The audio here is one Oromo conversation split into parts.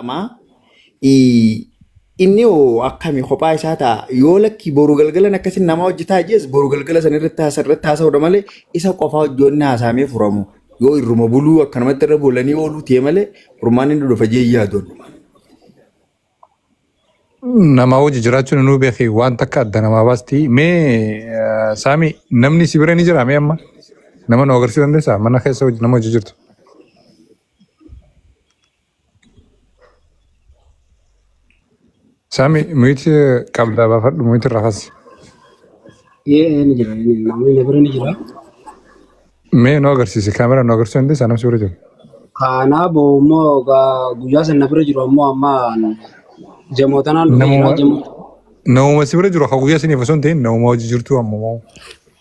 Amaa inni hoo akkami kophaa isaa ta'a yoo lakkii boru galgalan akkasii nama hojjetaa jees boru galgala san irratti haasa irratti haasa'udha malee isa qofaa hojjoonni haasaamee furamu yoo irruma buluu akkanumatti irra bulanii ooluu ta'e malee furmaan inni dhufa jee yaadoon. Nama hojii jiraachuun nuu beeki waan takka adda namaa baasti. Mee eh, Saami namni si bira ni jira mee amma? Nama nu agarsiisuu dandeessaa? Mana keessa hojii- nama hojii jirtu. Sami miti qabdaa baafadhu miti irraa kasi. Ee ni jira ni jira namni na bira ni jira. Mee nu agarsiisi kaameraa nu agarsiisuu dandeessaa namni suuraa jiru. Kaanaa boo immoo gaa- guyyaa san na bira jiru ammoo amma jamoo tanaan dhufee jira Namuma jamoo namuma si bira jiru akka guyyaa siniif osoo hin ta'in namuma hojii jirtu ammoo.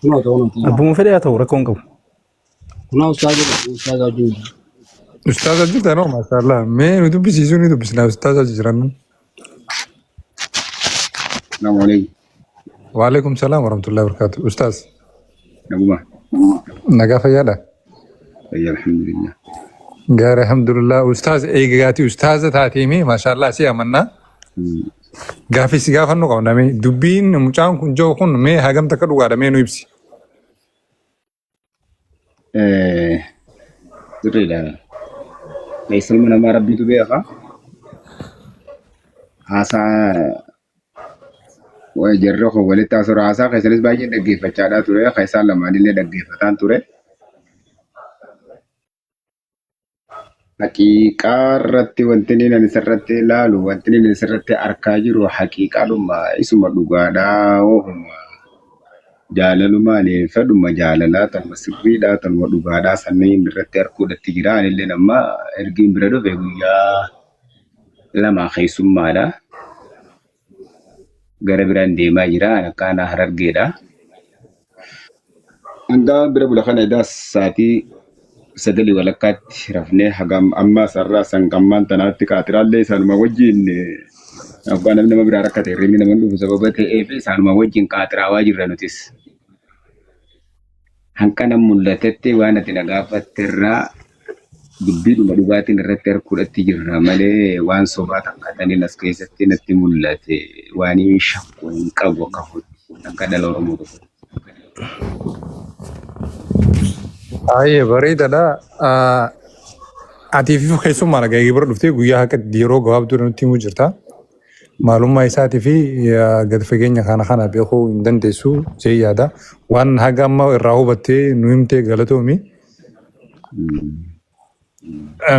kunoota kunoota. Abbuma fedhe haa ta'u rakkoo hin qabu. Kunoo ustaaza jira, ustaaza wajjin jira. Ustaaza jirta noo maashaallah. Mee nu dubbisiisuu ni dubbisna ustaaza jiran. Salaamu alaikum. Waalaikum salaam warahmatullahi wabarakatuh. Ustaaz Naguma. nagaa fayyaadha. Fayya alhamdulillah. Gaari alhamdulillah. Ustaaz eegaati ustaaza taatee mee maashaallah si amanna. Hmm. Gaaffii si gaafannuu qabna mee dubbiin mucaan kun jiru kun mee hagam takka dhugaadha mee nu ibsi. Sirriidha. Keessa ilma namaa rabbiitu beeka. Haasaa wa- jarri kun walitti haasura haasaa keessanis baay'ee dhaggeeffachaadhaa ture. Keessaa lamaanillee dhaggeeffataan ture. Haqiiqaa irratti wanti inni ani sirratti ilaalu wanti inni ani sirratti arkaa jiru haqiiqaadhuma isuma dhugaadhaa hohuma jaalalumaan fedhuma jaalalaa tanuma sirriidhaa tanuma dhugaadhaa sanniin irratti arguudhatti jira anillee amma ergiin bira dhufe guyyaa lamaa keessummaadha. gara biraan deemaa jira. An akka aanaa harargeedha. Hangaa bira bula kana edaa sa'aatii sagalii walakkaatti rafnee hagam ammaa sarraa sangammaan tanaatti qaaxiraallee isaanuma wajjin abbaa namni nama biraa rakkate hirribni nama hin dhufu sababa ta'eef isaanuma wajjin qaaxiraawaa jirra nutis. Hanqanan mul'atetti waan ati na gaafatte irraa dubbiidhuma dhugaatiin irratti harkuudhatti jirra malee waan sobaa takkataniin as keessatti natti mul'ate waan hin shakku hin qabu akka kootti akka dhala Oromoo tokko. Baay'ee bareedadha. Ati fi keessummaan dhagaa'ee bira dhuftee guyyaa haqa yeroo gabaabduu nutti himuu jirta. Maalummaa isaati fi gad fageenya kana kana beekuu hin dandeessu jee yaada. Waan haga amma irraa hubattee nu himtee galatoomi.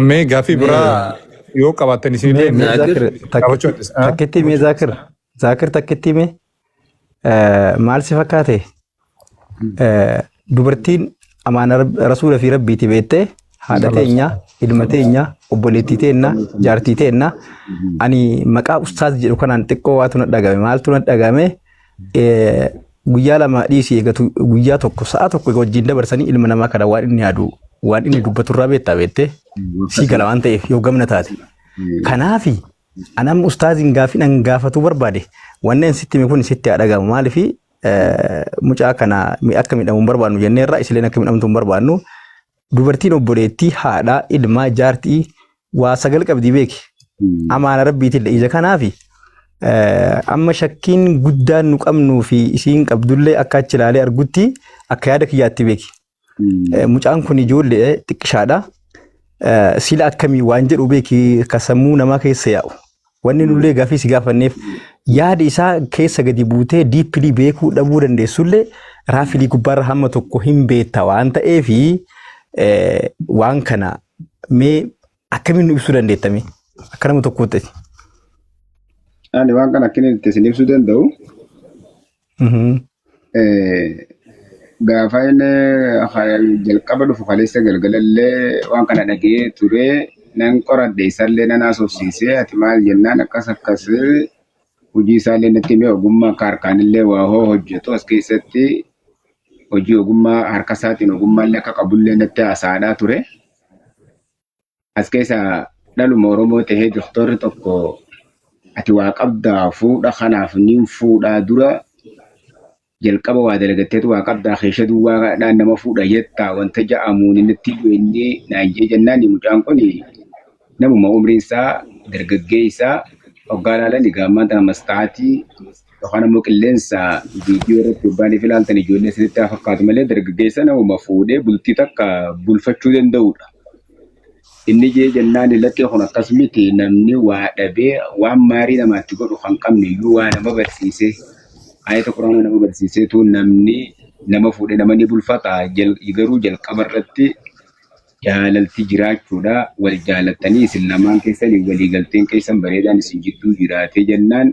Mee gaaffii biraa yoo qabaattan isinillee Mee Zaakir qabachuu dandeessa. takkittii mee Zaakir Zaakir takkittii mee Maal si fakkaate? Dubartiin amaana rasuula fi rabbiiti beettee haadha teenya, ilma teenya, obboleettii teenya, jaartii teenya. Ani maqaa ustaaz jedhu kanaan xiqqoo waatu na dhagame. Maaltu na dhagame? Guyyaa lama dhiisii eegatu guyyaa tokko sa'a tokko egaa wajjin dabarsanii ilma namaa kana waan inni yaadu waan inni dubbatu irraa beektaa beettee sii gala waan ta'eef yoo gamna taate. Kanaafi An amma ustaaziin gaaffiin an gaafatuu barbaade wanni an sitti hime kun sitti haa dhagahamu maaliif mucaa kana mi- akka midhamu hin barbaadnu jennee irraa isileen akka midhamtu hin barbaadnu dubartiin obboleettii haadhaa ilmaa jaartii waa sagal qabdii beeki amaana rabbiitillee ija kanaafi eh, amma shakkiin guddaan nu qabnuu fi isiin qabdullee akka achi ilaalee argutti akka yaada kiyyaatti beeki Eh, Mucaan kun ijoollee xiqqishaadha. Eh, Sila akkamii waan jedhu beeki akka sammuu namaa keessa yaa'u. Wanni nullee gaaffii si gaafanneef yaada isaa keessa gadi buutee diippilii beekuu dhabuu dandeessullee raafilii gubbaarra hamma tokko hin beekta waan ta'eef eh, waan kana mee akkamiin nu ibsuu dandeettame akka nama tokkootti. Ani waan kana akkamiin itti isin ibsuu danda'u Mhm. Eh, Gaafa inni ha- jalqaba dhufu kaleessa galgalallee waan kana dhagee ture nan qoradhe isallee nan haasofsiise ati maal jennaan akkas akkas hojii isaallee natti himee ogummaa akka harkaanillee waa hoo hojjetu as keessatti hojii ogummaa harka isaatiin ogummaallee akka qabullee natti haasa'aadhaa ture. As keessa dhaluma Oromoo tahee doktorri tokko ati waa qabdaa fuudha kanaaf niin fuudhaa dura jalqaba waa dalagatteetu waa qabdaa keesha duwwaadhaan nama fuudha jettaa wanta ja'amuun natti bu'e inni naan jee jennaan mucaan kun namuma umriin isaa dargaggeessa hoggaa laalan egaa ammaan tana mastaatii Yookaan ammoo qilleensa viidiyoo irratti hoggaaniif ilaaltan ijoollee isinitti haa fakkaatu malee dargaggeessa namuma fuudhee bultii takka bulfachuu danda'udha. Inni jee jennaan lakkee kun akkas miti namni waa dhabee waan maarii namaatti godhu kan qabne iyyuu waa nama barsiisee ayata quraana nama barsiiseetu namni nama fuudhee nama ni bulfata Jal- garuu jalqaba irratti jaalalti jiraachuudha wal jaalattanii isin lamaan keessanii walii galteen keessan bareedaan isin jidduu jiraatee jennaan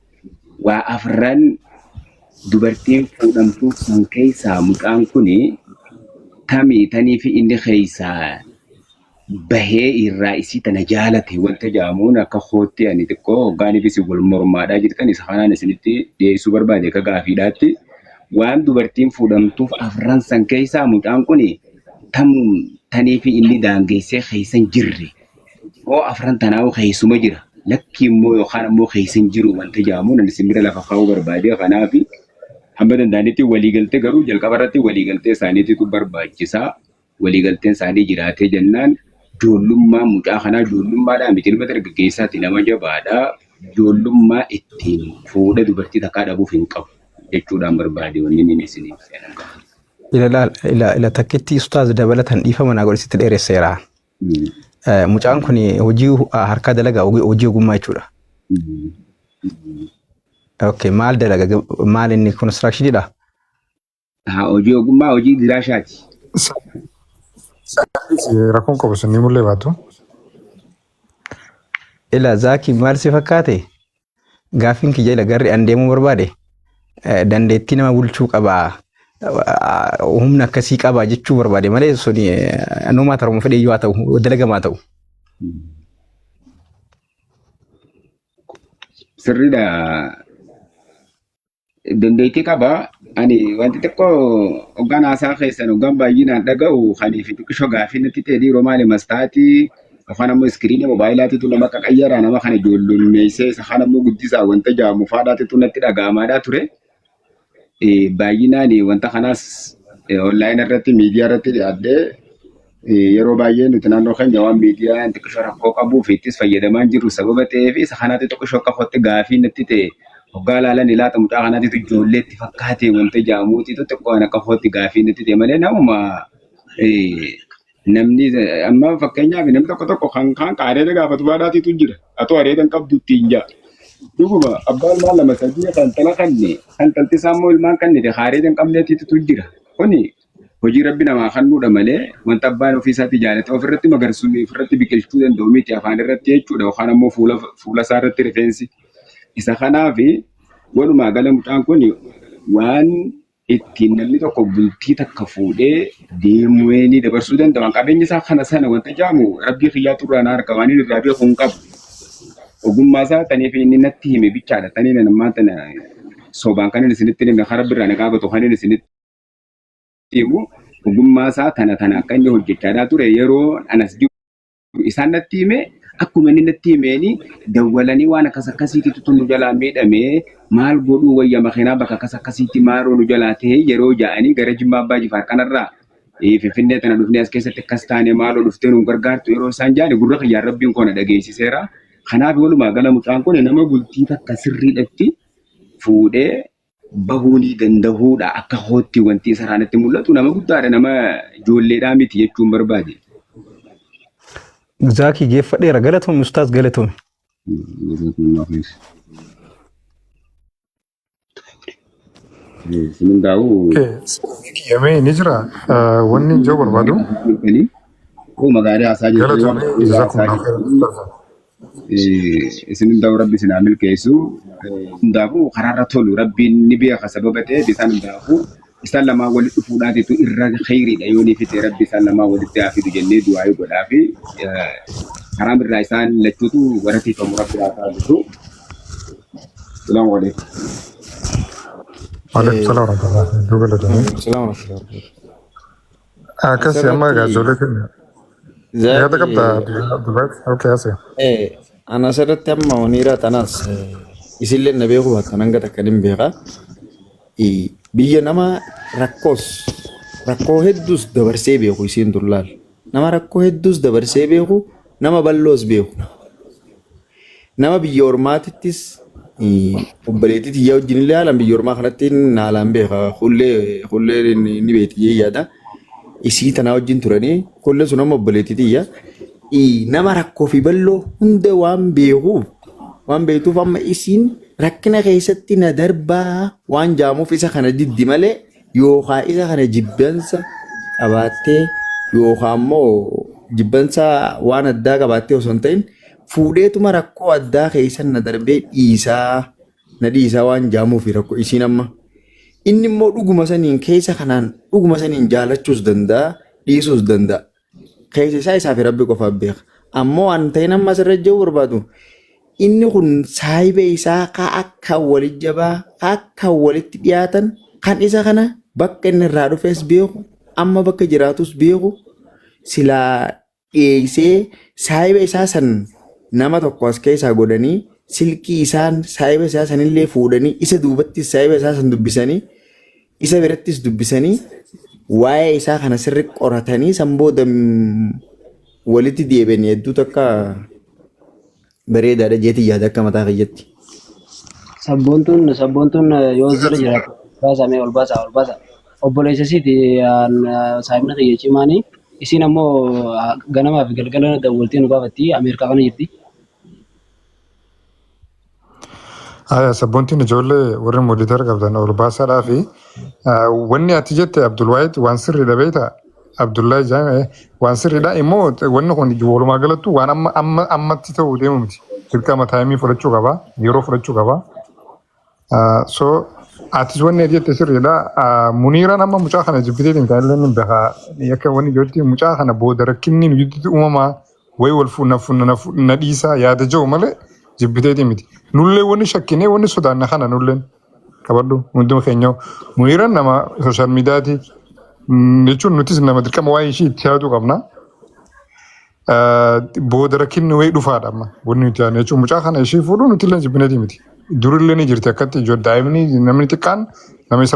Waa afran dubartiin fuudhamtuu san keessaa mucaan kun tami taniifi inni keessaa bahee irraa isii tana jaalate wanta jaamuun akka kootti ani xiqqoo hoggaaniif isin wal mormaadhaa jirtan isa kanaan isinitti dhiyeessuu barbaade akka gaafiidhaatti waan dubartiin fuudhamtuuf afran san keessaa mucaan kun tam taniifi inni daangeessee keessan jirre Hoo afran tanaa'u keessuma jira lakkii immoo yookaan ammoo keessa hin jiru wanta jaamu nan isin bira lafa kaa'uu barbaadee kanaaf hamma danda'anitti waliigaltee garuu jalqaba irratti waliigaltee isaaniititu barbaachisa. Waliigalteen isaanii jiraatee jennaan joollummaa mucaa kanaa joollummaadhaa miti ilma dargaggeessaati nama jabaadha. Joollummaa ittiin fuudha dubartii takkaa dhabuuf hin qabu jechuudhaan barbaade wanni inni isiniif seenan qabu. Ila ila ila ila takkitti ustaaz dabalatan dhiifama naa godhe sitti dheeresseera. Mucaan kun hojii harkaa dalagaa hojii ogummaa jechuudha. Ok maal dalaga maal inni construction dha? Hojii ogummaa hojii giraashaati. Rakkoon qabu sun ni mul'ee baatu. Ila zaaki maal si fakkaate? Gaaffiin kiyya ila garri an deemuu barbaade dandeettii nama bulchuu qabaa humna akkasii qabaa jechuu barbaade malee suni numaa taruma fedhee yoo haa ta'u dalagamaa ta'u. Sirriidha. Dandeettii qaba. Ani wanti xiqqoo hoggaan haasaa keessan hoggaan baay'inaan dhaga'u kanii fi xiqqisho gaafii natti ta'e dhiiroo maali mastaatii yookaan ammoo iskiriinii moobaayilaatiitu nama qaqayyaraa nama kana ijoollummeessee isa kaan ammoo guddisaa wanta jaamu faadhaatitu natti dhaga'amaadhaa ture. Eh, Baay'inaan wanta kanaas onlaayina irratti miidiyaa irratti dhiyaadhee Yeroo baay'ee nuti naannoo keenya waan miidiyaan xiqqishoo rakkoo qabuu fi ittis fayyadamaa hin jirru sababa ta'ee fi isa kanaatti xiqqishoo akka kootti gaafii natti ta'e hoggaa ilaalan ilaata mucaa kanaatitu ijoollee itti fakkaate wanta jaamuutitu xiqqoo ana akka kootti gaafii natti ta'e malee namuma eh, namni eh, amma fakkeenyaaf namni tokko tokko kan kaan qaaree gaafatu baadhaatitu jira atoo areeda hin qabdu ittiin jaa dhuguma abbaa ilmaan lama sadii kan tala kanne kan talti isaa immoo ilmaan kannite qaaree hin qabneetitu jira kuni Hojii Rabbi namaa kannuudha malee wanta abbaan ofii isaatii jaalate ofirratti magarsu ofirratti biqilchuu danda'u miti afaan irratti jechuudha yookaan ammoo fuula fuula isaa irratti rifeensi isa kanaaf walumaa gala mucaan kun waan ittiin namni tokko bultii takka fuudhee deemuweenii dabarsuu danda'u waan qabeenya isaa kana sana wanta jaamu Rabbii kiyyaa turraa na harka waan inni irraa beeku hin qabu ogummaa isaa tanii fi inni natti hime bichaadha tanii nan ammaa tana sobaan kan inni isinitti hime kan Rabbi irraa na gaafatu kan inni isinitti immoo ogummaa isaa tana tana akka inni hojjechaa ture yeroo anas jiru isaan natti hime akkuma inni natti himeeni dawwalanii waan akkas akkasiititu tun nu jalaa miidhame maal godhuu wayya makiinaa bakka akkas akkasiitti maaroo nu jalaa ta'e yeroo ja'anii gara jimmaa abbaa jifaar kanarraa eh, finfinnee tana dhufnee as keessatti akkas taane maaloo dhuftee nu gargaartu yeroo isaan ja'ani gurra kiyyaan rabbiin koona dhageessiseera kanaaf walumaa gala mucaan kun nama bultii takka sirriidhatti fuudhee bahuu ni dandahuudha akka kootti wanti isarraa natti mul'atu nama guddaadha nama ijoolleedhaa miti jechuun barbaade. Zaakii geeffadheera galatoomi ustaaz galatoomi. Isin hundaa'uu Yamee ni jira. Ah, Wanni hin jiru barbaadu. Koo magaalaa haasaa jirtu yoo Galatoomi. ta'u, haasaa Jazakumullahu jirtu. khairan. Isin hundaa'u rabbi isin haa milkeessu. Hundaafuu karaarra tolu rabbiin ni beeka sababa ta'eef isaan hundaafuu isaan lamaa walitti dhufuudhaatitu irra kheyriidha yoo ni fite rabbi isaan lamaa walitti haa fidu jennee du'aayii godhaa fi haraam irraa isaan lachuutu waratiifamu rabbi haa taasisu. Salaamu alaikum. Waalaikum salaam warahmatullahi wabarakatuh. Galatoomii. Salaam alaikum. Akkas amma asirratti gaazoolee kenna. Yaada zaaki qabda Abdullahi? Okee asee. eh, an asirratti amma waniiraa tanaas eh, isillee na beekuu baattan hanga takka nin beeka. Eh, Biyya nama rakkoos rakkoo hedduus dabarsee beeku isiin dullaal. Nama rakkoo hedduus dabarsee beeku nama balloos beeku. Nama biyya ormaatittis obboleettii tiyya wajjin illee haalaan biyya ormaa kanatti haalaan beeka. Kullee kullee ni beekti jee yaada. Isii tanaa wajjin turanii kullee sun amma obboleettii tiyya. Nama rakkoo fi balloo hunda waan beekuuf waan beektuuf amma isiin rakkina keessatti na darbaa waan jaamuuf isa kana diddi malee yookaa isa kana jibbansa qabaattee yookaa immoo jibbansa waan addaa qabaattee osoo hin ta'in fuudheetuma rakkoo addaa keessan na darbee dhiisaa na dhiisaa waan jaamuufi rakkoo isiin amma inni immoo dhuguma saniin keessa kanaan dhuguma saniin jaalachuus danda'a dhiisuus danda'a. keessa isaa isaa fi rabbi qofaaf beeka. Ammoo waan ta'in amma asirra jiru barbaadu inni kun saahiba isaa ka akka walitti jabaa ka akka walitti dhiyaatan kan isa kana bakka inni irraa dhufes beeku amma bakka jiraatus beeku silaa dhiyeessee saahiba isaa san nama tokko as keessaa godhanii silkii isaan saahiba isaa sanillee fuudhanii isa duubatti saahiba isaa san dubbisanii Isa birattis dubbisanii waa'ee isaa kana sirri qoratanii san booda mm, walitti deebi'anii hedduu takka bareedaadha jeetii yaada akka mataa kiyyatti. Sabboontuun sabboontuun eh, yoo jira jiraatu baasa mee ol baasa ol baasa. Obboleessa isiiti saayimna kiyya cimaani. Isiin ammoo ah, ganamaa fi galgala dawwaltee nu gaafatti Ameerikaa kana jirti. Aya sabboontiin ijoollee warri moditar qabdan ol baasaadhaa fi ah, wanni ati jette Abdulwaahid waan sirriidha beekta Abdullahi Jaan eh, waan sirriidha immoo wanni kun walumaa galattuu waan amma amma ammatti ta'uu deemu miti dirqama taayimii fudhachuu qaba yeroo fudhachuu qaba Ah, so atis wanni ati jette sirriidha Ah, muniiraan amma mucaa kana jibbiteetiin kan illee ni beekaa akka wanni jirti mucaa kana booda rakkinni nu jidduutti uumamaa Way wal fu na fu na fu na dhiisaa yaada ja'u malee jibbiteetii miti. Nullee wanni shakkinee wanni sodaanna kana nulleen qabadhu hunduma keenya muniiran nama social mediaati mm, jechuun nutis nama dirqama waa'ee ishii itti yaaduu qabna. Ah, Booda rakkinni wayii dhufaadha amma wanni nuti yaadne jechuun mucaa kana ishii fuudhuu nuti illee jibbineetii miti. Durillee ni jirti akkatti ijoollee daa'imni namni xiqqaan nama isa